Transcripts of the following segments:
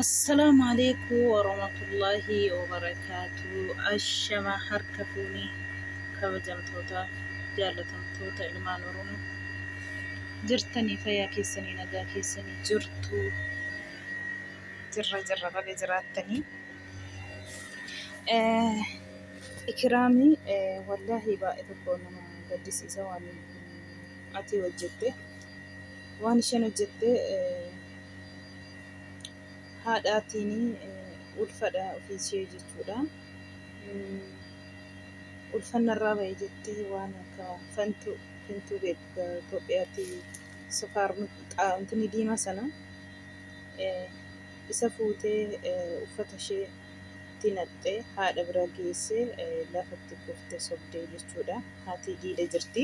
Assalaamu Aleekum Warahmatullahi Wabarakaatu Ashama harka fuuni kabajamtoota jaalatamtoota ilmaan Oromoo jirtanii fayyaa keessanii nagaa keessanii jirtu jirra jirra baga jiraattanii Eh, ikiraamii eh, wallaahi baay'ee tokko nama gaddisiisa waan ati hojjette waan isheen hojjette eh, haadhaatiin ulfadha ofiishee jechuudha. Ulfannarraa ba'e jettee waan akka fantuu fintuu beektu Itoophiyaatti sukaar xaa'imtini diima sana isa fuutee uffata ishee itti naqxee haadha bira geessee lafatti kuftee sobdee jechuudha. Haati diida jirti.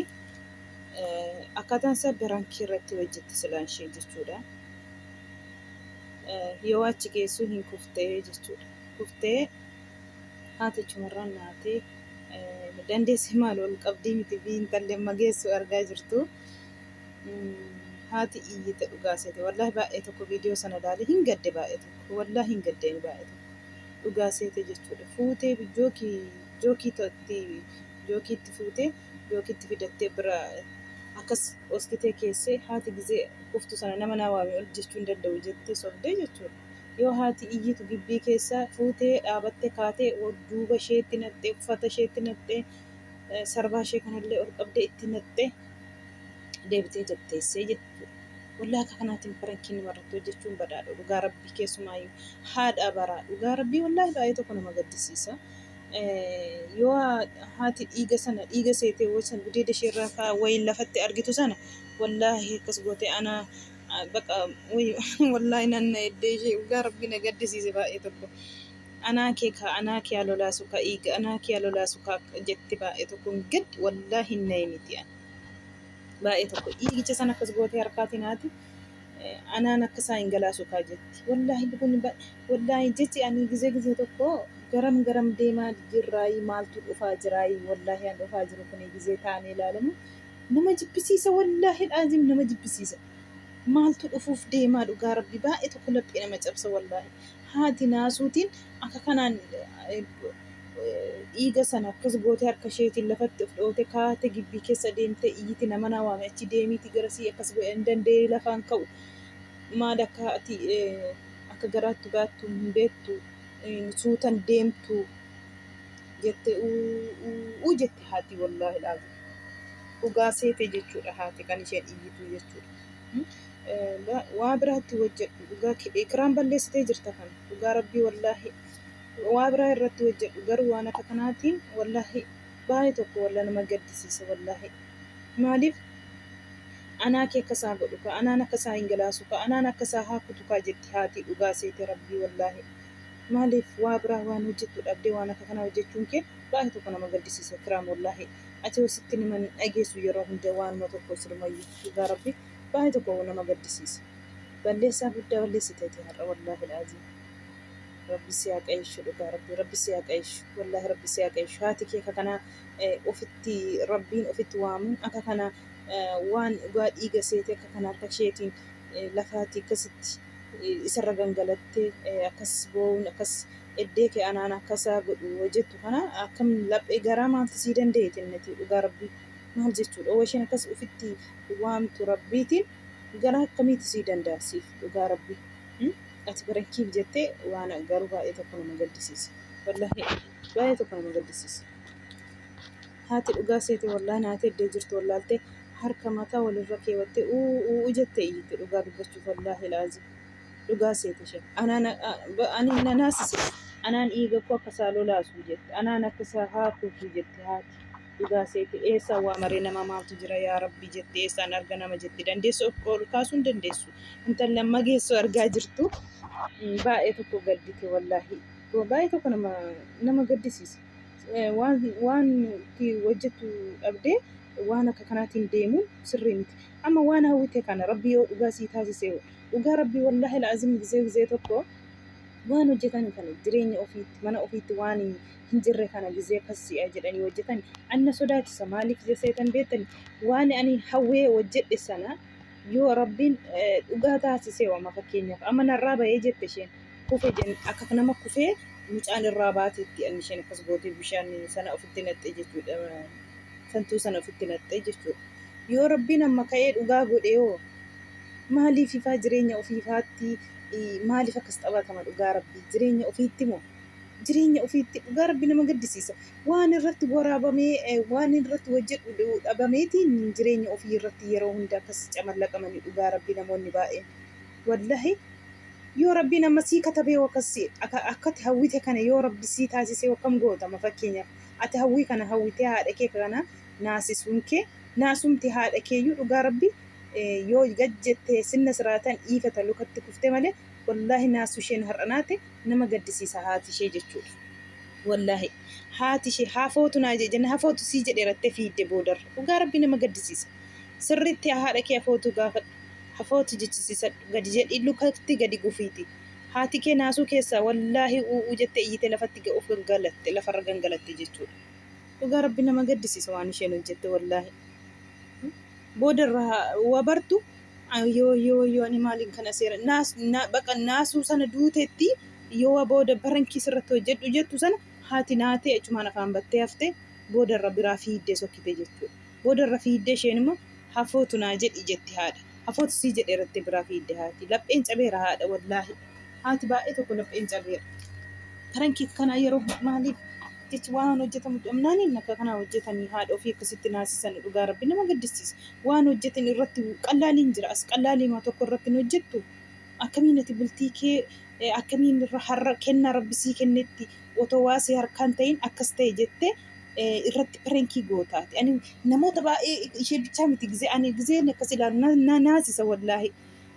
akkaataan isaa birankii irratti hojjetti silaan ishee jechuudha. Yoo achi geessuu hin kuftee jechuudha. Kuftee haati achumarraan naatee dandeessi maal ol qabdii miti fi intalli amma geessu argaa jirtu. Haati iyyite dhugaa seete wallahi baay'ee tokko viidiyoo sana ilaalee hin gadde baay'ee tokko wallahi hin gaddeen baay'ee tokko dhugaa seete jechuudha. Fuutee jookii jookii tootti jookiitti fuutee yookiin itti fidattee bira akkas dhoskitee keessee haati gizee kuftu sana nama naa waame ol jechuu hin danda'u jettee sobdee jechuudha. Yoo haati iyyitu gibbii keessaa fuutee dhaabatte kaatee duuba isheetti naqxee uffata isheetti naqxee sarbaa ishee kanallee ol qabdee itti naqxee deebitee jatteessee jechuudha. Wallaa akka kanaatiin parankiin namarratti hojjechuun badaadha dhugaa rabbii keessumaayyuu haadha baraa dhugaa rabbii wallaahi baay'ee tokko nama gaddisiisa. yoo haati dhiiga sana dhiiga seetee waysan gudeeda ishee irraa kaa wayin lafatti argitu sana wallaahi akkas goote ana baqa wallaahi nanna eddee ishee dhugaa rabbi na gaddisiise baay'ee tokko anaa kee kaa anaa kee alolaasu kaa dhiiga anaa kee alolaasu kaa jetti baay'ee tokko gad wallaahi hin na'e miti baay'ee tokko dhiigicha sana akkas gootee harkaatiin haati Anaan akka isaa hin galaasu kaa jetti. Wallaahi kun wallaahi jechi ani gizee gizee tokko garam garam deemaa jirraayii maaltu dhufaa jiraayii wallaahi an dhufaa jiru kun gizee taa'anii ilaalamu nama jibbisiisa wallaahi dhaazim nama jibbisiisa maaltu dhufuuf deemaa dhugaa rabbi baay'ee tokko laphee nama cabsa wallaahi Haati naasuutiin akka kanaan dhiiga sana akkas gootee harka isheetiin lafatti of dhoote kaate gibbii keessa deemtee iyyiti nama naa waame achi deemiiti garasii akkas godhe hin dandeenye lafaan ka'u maal akka ati akka garaatti baattu hin beektu suutan deemtu jette uu jette haati wallaahi dhugaa seete jechuudha haati kan isheen iyyitu jechuudha. waa biraa itti hojjedhu dhugaa kidha ikiraan balleessitee jirta kan dhugaa rabbii wallaahi waa biraa irratti hojjedhu garuu waan akka kanaatiin wallaahi baay'ee tokko walla nama gaddisiisa wallaahi maaliif anaa kee akka isaa godhu ka anaan akka isaa hin galaasu ka anaan akka isaa haa kutu kaa jetti haatii dhugaa seete rabbii wallaahi maaliif waa biraa waan hojjettu dhabdee waan akka kanaa hojjechuun kee baay'ee tokko nama gaddisiisa ikiraam wallaahi ati hositti niman dhageessu yeroo hunda waanuma tokko sirumayyu dhugaa rabbii Baay'ee tokko nama gaddisiisa. Balleessaa guddaa balleessiteeti har'a wallaahi laaziim. Rabbi si haa qayeeshu dhugaa rabbi rabbi si haa qayeeshu wallaahi rabbi si haa qayeeshu haati kee akka kanaa eh, ofitti rabbiin ofitti waamuun akka kana eh, waan dhugaa dhiiga seete akka kana harka isheetiin eh, lafaati akkasitti eh, isarra gangalattee eh, akkas boo'uun akkas eddee kee anaan akkasaa godhu yoo jettu kana akkam laphee garaa maaltu sii dandeetti innati dhugaa rabbi maal jechuudha yoo isheen akkas ofitti waamtu rabbiitiin garaa akkamiitu sii danda'a siif dhugaa rabbii hmm? ati barankiif jettee waan garuu baay'ee tokko nama gaddisiisa wallahi baay'ee tokko nama gaddisiisa haati dhugaa seete wallaa naati eddee jirtu wallaaltee harka mataa walirra keewattee uu uu jettee iyyite dhugaa dubbachuuf wallaahi laazi dhugaa seete ishee anaan ani na naasise anaan dhiiga koo akka isaa lolaasu jette anaan akka isaa haakuutu jette haati Dhugaa seete eessaan waamaree nama maaltu jira yaa rabbi jette eessaan arga nama jette dandeessu of ol kaasuu hin dandeessu intalli amma geessu argaa jirtu mm, baay'ee tokko gaddite wallaahi Wa- baay'ee tokko nama nama gaddisiisa Eh, waan waan itti hojjettu dhabdee waan akka kanaatiin deemuun sirrii miti amma waan hawwite kana rabbi yoo dhugaa sii taasise hoo? dhugaa rabbi wallaahi laazim gizee gizee tokko waan hojjetan kana jireenya ofiitti mana ofiitti waan hin jirre kana gizee akkas si'a jedhanii hojjetan anna sodaachisa maaliif jeseetan beettani waan ani hawwee hojjedhe sana yoo rabbiin dhugaa taasisee wama fakkeenyaaf amma narraa ba'ee jette isheen kufe jen akka nama kufee mucaan irraa baateetti anni isheen akkas gootee bishaan sana ofitti naqxee jechuudha santuu sana ofitti naqxee jechuudha yoo rabbiin amma ka'ee dhugaa godhee hoo maaliif ifaa jireenya ofiifaatti maaliif akkas taphatama dhugaa rabbii jireenya ofiitti moo jireenya ofiitti dhugaa rabbi nama gaddisiisa waan irratti waraabamee eh, waan irratti hojjedhu dhabameetiin jireenya ofii irratti yeroo hunda akkas camallaqamani dhugaa rabbi namoonni baay'een wallahi yoo rabbiin amma sii katabee akkasi akka- akkati hawwite kana yoo rabbi sii taasisee akkam gootama fakkeenyaaf ati hawwii kana hawwitee haadha kee kana naasisuun kee naasumti haadha keeyyuu dhugaa rabbi eh, yoo gad jettee sinna siraatan dhiifata lukatti kufte malee wallaahi naasu isheen har'a naate nama gaddisiisa haati ishee jechuudha. Wallaahi haati ishee hafootu naa jee jenna hafootu sii jedhe rattee fiidde boodarra dhugaa rabbi nama gaddisiisa. Sirriitti haadha kee hafootu gaafadhu hafootu jechisiisadhu gadi jedhii lukatti gadi gufiiti. Haati kee naasuu keessaa wallaahi u'uu jette iyyite lafatti ga- of gangalatte lafarra gangalatte jechuudha. Dhugaa rabbi nama gaddisiisa waan isheen hojjette wallaahi. Booda irraa wa bartu Wayyoo wayyoo wayyoo ani maaliin kana seera naas na baqa naasuu sana duutetti yoo wa booda barankii sirratti hojjedhu jettu sana haati naatee achumaan afaan battee hafte booda irra biraa fiiddee sokkite jechuudha. Booda irra fiiddee isheen immoo hafootu naa jedhi jetti haadha. Hafootu sii jedheera jettee biraa fiidde haati. Lapheen cabeera haadha wallaahi. Haati baay'ee tokko lapheen cabeera. Barankii kanaa yeroo maaliif Jechi waan hojjetamu dhabnaani akka kanaa hojjetanii haadha ofii akkasitti naasisani dhugaa rabbi nama gaddisiisa waan hojjetin irratti qallaaliin jira as qallaaliima tokko irratti hin hojjettu akkamiin ati bultii kee akkamiin irra har'a kennaa rabbi sii kennetti otoo waa si harkaan ta'in akkas ta'e jette irratti pirenkii gootaati ani namoota baay'ee ishee bichaa miti gizee ani gizeen akkas ilaalu na- na naasisa wallaahi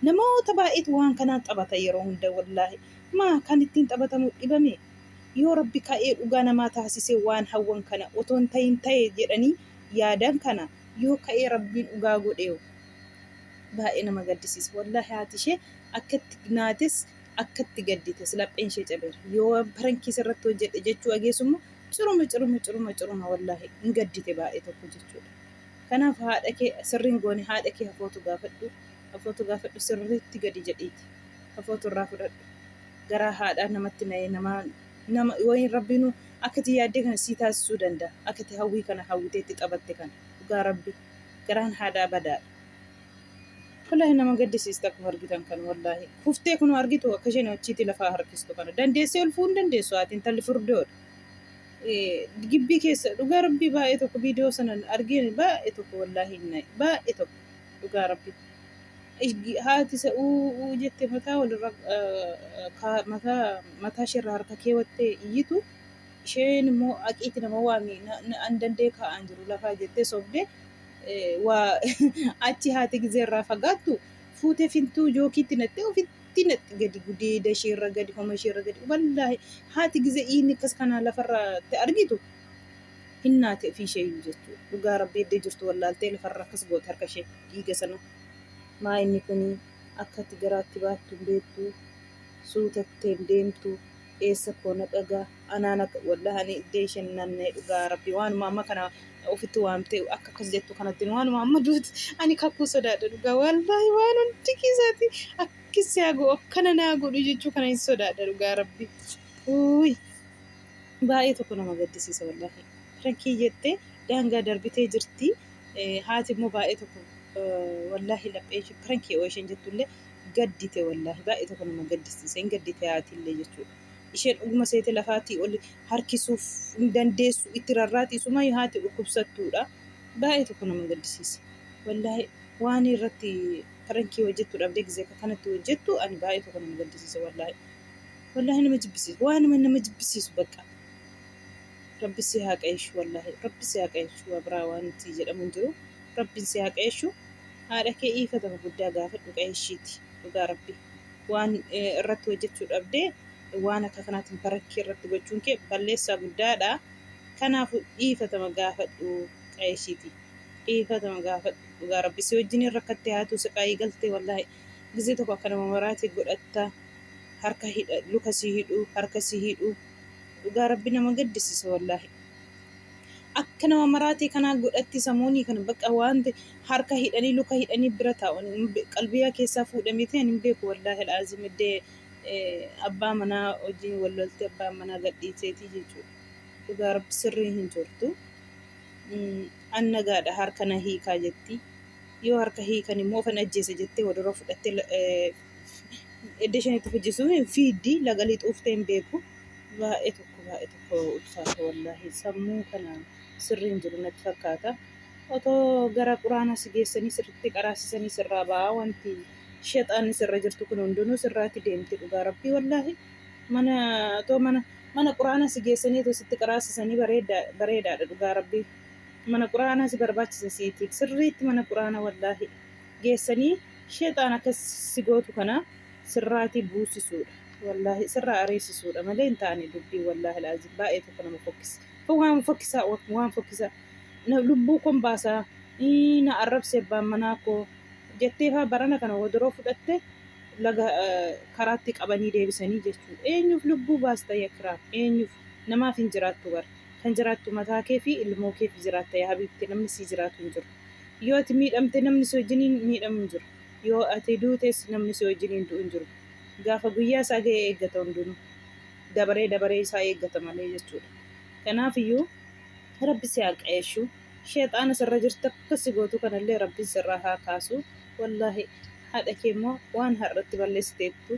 namoota baay'eetu waan kanaan taphata yeroo hunda wallaahi maa kan ittiin taphatamu dhibame Yoo Rabbi ka'ee dhugaa namaa taasisee waan hawwan kana otoo hin tahin tahe jedhanii yaadan kana yoo ka'ee Rabbiin dhugaa godheeho? Baay'ee nama gaddisiisa. Wallaahi haati ishee akkatti naates akkatti gaddites lapheen ishee cabeera. Yoo parankii sirratti hojjedhe jechuu ageessu immoo ciruma ciruma ciruma ciruma wallaahi hin gaddite baay'ee tokko jechuudha. Kanaaf haadha kee sirriin goone haadha kee hafootu gaafadhu hafootu gaafadhu sirriitti gadi jedhiiti hafootu irraa fudhadhu. garaa haadhaa namatti na'ee namaa nama wayiin rabbiinu akka itti yaaddee kana sii taasisuu danda'a akka itti hawwii kana hawwitee itti taphatte kana dhugaa rabbi garaan haadhaa badaadha wallaahi nama gaddisiista akkuma argitan kan wallaahi kuftee kunoo argitu akka isheen achiitii lafaa harkistu kana dandeessee ulfuu hin dandeessu haati intalli furdoodha Eh, gibbii keessa dhugaa rabbii baay'ee tokko viidiyoo sanan argeen baay'ee tokko wallaahi hin na'e baay'ee tokko dhugaa rabbii Haati isa uuu jette mataa walirra mataa ishee irraa harka keewwattee iyyitu isheen immoo aqiitti nama waami an dandee kaa'aan jiru lafaa jettee sobdee waa achi haati gizee irraa fagaattu fuutee fintuu jookiitti naxxee ofitti naxxi gadi gudeeda ishee irra gadi homa ishee irra gadi wallaahi haati gizee iinni akkas kanaa lafarratti argitu hin naate ofii isheeyyuu jechuudha. Dhugaa rabbii eddee jirtu wallaaltee lafarra akkas goote harka ishee dhiiga sana maa inni kuni akkatti garaatti baattu hin beektu suutattee hin deemtu eessa koo na dhagaa anaan akka wallahi ani eddee isheen naanna'e dhugaa rabbii waanuma amma kana ofitti waamtee akka akkas jettu kanatti waanuma amma duuti ani kakuu sodaadha dhugaa wallahi waan hundi keessaati akkissi haa godhu akkana naa godhu jechuu kana hin sodaadha dhugaa rabbii. Uuy. Baay'ee tokko nama gaddisiisa wallahi. Pirankii jettee daangaa darbitee jirti. Haati immoo baay'ee tokko wallahi laphee ishee pirankii oo isheen jettullee gaddite wallahi baay'ee tokko nama gaddisiisa. Hin gaddite haatillee jechuudha. Isheen dhuguma seete lafaatii ol harkisuuf hin dandeessu itti rarraati isuma haati dhukkubsattuudha. Baay'ee tokko nama gaddisiisa. Wallahi waan irratti pirankii hojjettu dhabdee gizee kanatti hojjettu ani baay'ee tokko nama gaddisiisa wallahi. Wallaahi nama jibbisiisu. Waanuma nama jibbisiisu bakka. Rabbi si haa qayeeshu wallaahi. Rabbi si haa qayeeshu waa biraa waan itti jedhamu hin jiru. Rabbiin si haa qayeeshu. Haadha kee iifatama guddaa gaafadhu qayeeshiiti. Dhugaa rabbi. Waan eh, irratti hojjechuu dhabdee waan akka kanaatiin barakkii irratti gochuun kee balleessaa guddaadha. Kanaafuu dhiifatama gaafadhu qayeeshiiti. Dhiifatama gaafadhu. Dhugaa rabbi si wajjiniin rakkattee haatuu siqaayii galtee wallaahi. Gizee tokko akka nama maraate godhatta harka hidha luka si hidhu harka si hidhu dhugaa rabbi nama gaddisisa wallaahi akka nama maraate kanaa godhatti samoonii kana bakka waanti harka hidhanii luka hidhanii bira taa'u qalbiyaa keessaa fuudhamite ani hin beeku wallaahi al'aazim iddee abbaa manaa wajjin wal lolte abbaa manaa gadhiiseetii jechuudha dhugaa rabbi sirrii hin jirtu an nagaadha harka na hiikaa jetti Yoo harka hiikan immoo ofan ajjeesa jettee wodoroo fudhattee edda isheen itti fujjisu fiiddi laga lixuuftee hin beeku. Baay'ee tokko baay'ee tokko ulfaata wallaahi sammuu kana sirrii hin jiru natti fakkaata. Otoo gara quraanaa si geessanii sirritti qaraasisanii sirraa ba'aa wanti shexaanni sirra jirtu kun hundinuu sirraatti deemti dhugaa rabbii wallaahi. Mana otoo mana mana quraanaa si geessanii otoo sitti qaraasisanii bareedaa bareedaadha dhugaa rabbii. mana qur'aanaa si barbaachisa siitiif sirriitti mana qur'aana wallaahi geessanii sheexaan akka si gootu kana sirraatii buusisuudha wallaahi sirraa ariisisuudha malee hin taane dubbii wallaahi laazim baay'ee tokko nama fokkisa kun waan fokkisaa waan fokkisaa na lubbuu kon baasaa ii, na arrabse abbaan manaa koo jettee faa barana kana wodoroo fudhatte laga eh, karaatti qabanii deebisanii jechuudha eenyuuf lubbuu baasta yakiraam eenyuuf namaaf hin jiraattu bara Kan jiraattu mataa kee fi ilmoo keef jiraatta yaa habiibti namni sii jiraatu hin jiru. Yoo ati miidhamte namni si wajjiniin miidhamu hin jiru. Yoo ati duutes namni si wajjiniin du'u hin jiru. Gaafa guyyaa isaa gahe eeggata hundinuu. Dabaree dabaree isaa eeggata malee jechuudha. Kanaafiyyuu Rabbi si haa qaeeshu. Sheexaana sirra jirtu akka si gootu kanallee Rabbiin sirraa haa kaasu. Wallaahi haadha kee immoo waan har'atti balleessiteettu.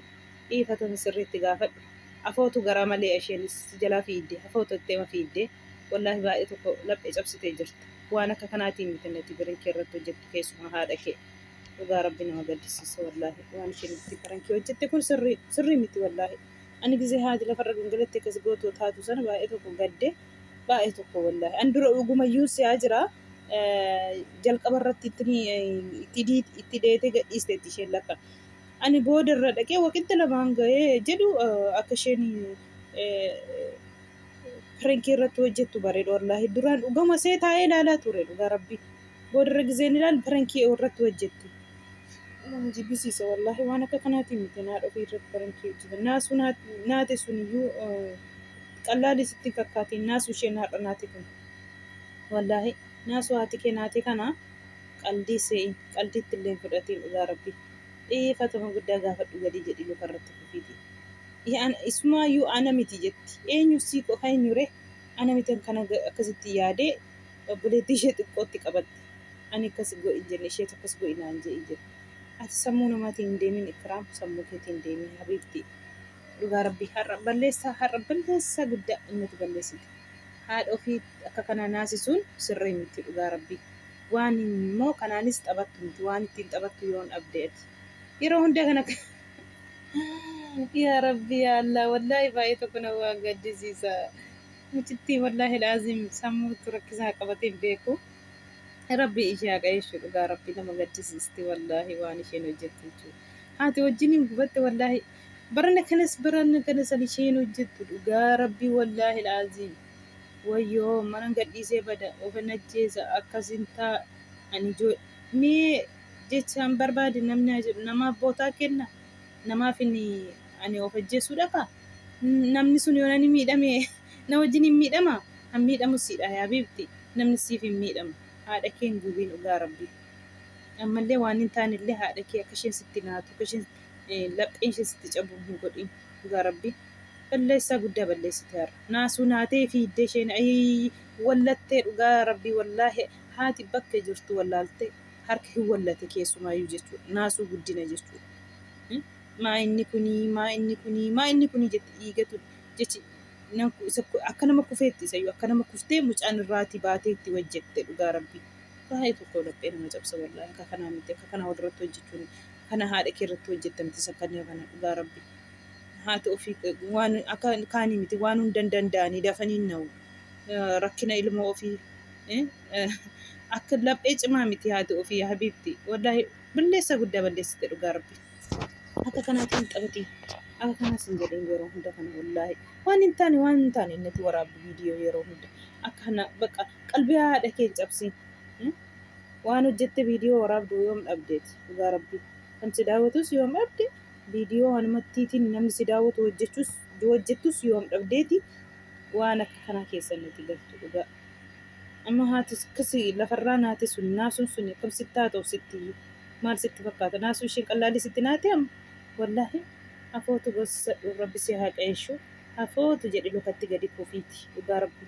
dhiifatama sirriitti gaafadhu afootu garaa malee esheenis si jalaa fiigde afootu itti ema fiigde wallahi baay'ee tokko laphe cabsite jirta waan akka kanaatiin miti nati birinkii irratti hojjettu keessumaa haadha kee dhugaa rabbi nama gaddisiisa wallahi waan isheen itti barankii hojjette kun sirrii sirrii miti wallahi ani gizee haati lafarra gangalatti akkas gootoo taatu sana baay'ee tokko gadde baay'ee tokko wallahi an dura dhugumayyuun siyaa jira jalqaba irratti itti deete gadhiisteetti isheen lakka Ani booda irra dhaqee waqixxi lamaan gahe jedhu akka isheen pirankii irratti hojjettu bareedu wallaahi duraan dhugama see taa'ee ilaalaa ture dhugaa rabbii booda irra gizeen ilaalu pirankii irratti hojjetti nama jibbisiisa wallaahi waan akka kanaatii miti naa dhofii irratti pirankii hojjetan naasuu naate sun iyyuu qallaalii sitti hin fakkaatiin naasuu isheen har'a naate kun wallaahi naasuu haati kee naate kana qaldii see'iin qaldiitti illee hin fudhatiin dhugaa rabbii. Dhiifatama guddaa gaafadhu gadi jedhi luka irratti kufiiti. Hi ana isumaayyuu ana miti jetti. Eenyu si ko ha enyure ana mitan kan akkasitti yaade obboleettii ishee xiqqootti qabatte. Ani akkas godhi hin jenne isheetu akkas godhi naan je'i jedhe. Ati sammuu namaatiin hin deemin Ikraam sammuu keetiin deemi habiibtii. Dhugaa rabbii har'a balleessaa har'a balleessaa guddaa nati balleessite. Haadha ofii akka kanaa naasisuun sirrii miti dhugaa rabbii. Waan hin moo kanaanis taphattu miti waan ittiin taphattu yoon dhabde ati yeroo hunda kana yaa rabbi yaa allah wallaahi baay'ee tokko na waa gaddisiisa mucittii wallaahi laaziim sammuutu rakkisaa qabatee hin beeku rabbi ishee haa qajeeshu dhugaa rabbi nama gaddisiisti wallaahi waan isheen hojjette jechuudha haati wajjin hin gubatte wallaahi barana kanas barana kanas ani isheen hojjettu dhugaa rabbi wallaahi laaziim Wayyoo manan gadhiisee bada ofan ajjeesa akkasin ta, an ijoollee mee jechaan barbaade namni haa jedhu namaaf bootaa kenna namaaf inni ani of ajjeesuu dhaqa namni sun yoon ani miidhame na wajjin hin miidhama han miidhamu siidha yaa biibti namni siif hin miidhamu haadha kee hin gubiin dhugaa rabbii ammallee waan hin taanellee haadha kee akka isheen sitti naatu akka isheen lapheen ishee sitti cabu hin godhin dhugaa rabbii balleessaa guddaa balleessite har'a naasuu naatee fiiddee isheen ayii wallattee dhugaa rabbii wallaahi haati bakka jirtu wallaaltee harka hin wallate keessumaayyuu jechuudha naasuu guddina jechuudha. Hmm? Maa inni kunii maa inni kunii maa inni kunii jette dhiigatu jechi nan ku- isa ku- akka nama kufeetti isayyuu akka nama kuftee mucaan irraatii baatee itti wajjette dhugaa rabbii baay'ee tokko laphee nama cabsa wallaahi akka kanaa miti akka kanaa walirratti hojjechuun kana haadha kee irratti hojjetta miti sakkanniya kana dhugaa rabbi haati ofii waan akka kaanii miti waan hundan danda'anii dafaniin na'u rakkina ilmoo ofii akka laphee cimaa miti haati ofii yaa habiibti wallaahi balleessa guddaa balleessite dhugaa rabbi akka kanaatti hin xabatiin akka kanaas hin jedhin yeroo hunda kana wallaahi waan hin taane waan hin taane innati waraabdu viidiyoo yeroo hunda akka kana baqa qalbii haadha kee hin cabsiin waan hojjette viidiyoo waraabdu yoom dhabdeeti dhugaa rabbii kan si daawwatus yoom dhabde viidiyoo wanumattiitiin namni si daawwatu hojjechus hojjettus yoom dhabdeeti waan akka kanaa keessa nuti galtu dhugaa amma haati akkasi lafarraa naate sun naasuun sun akkam sitti haa ta'u sitti maal sitti fakkaata naasuu isheen qallaalli sitti naate amma wallaahi afootu bossadhu rabbi si haa qayeeshu afootu jedhi lukatti gadi kufiiti dhugaa rabbii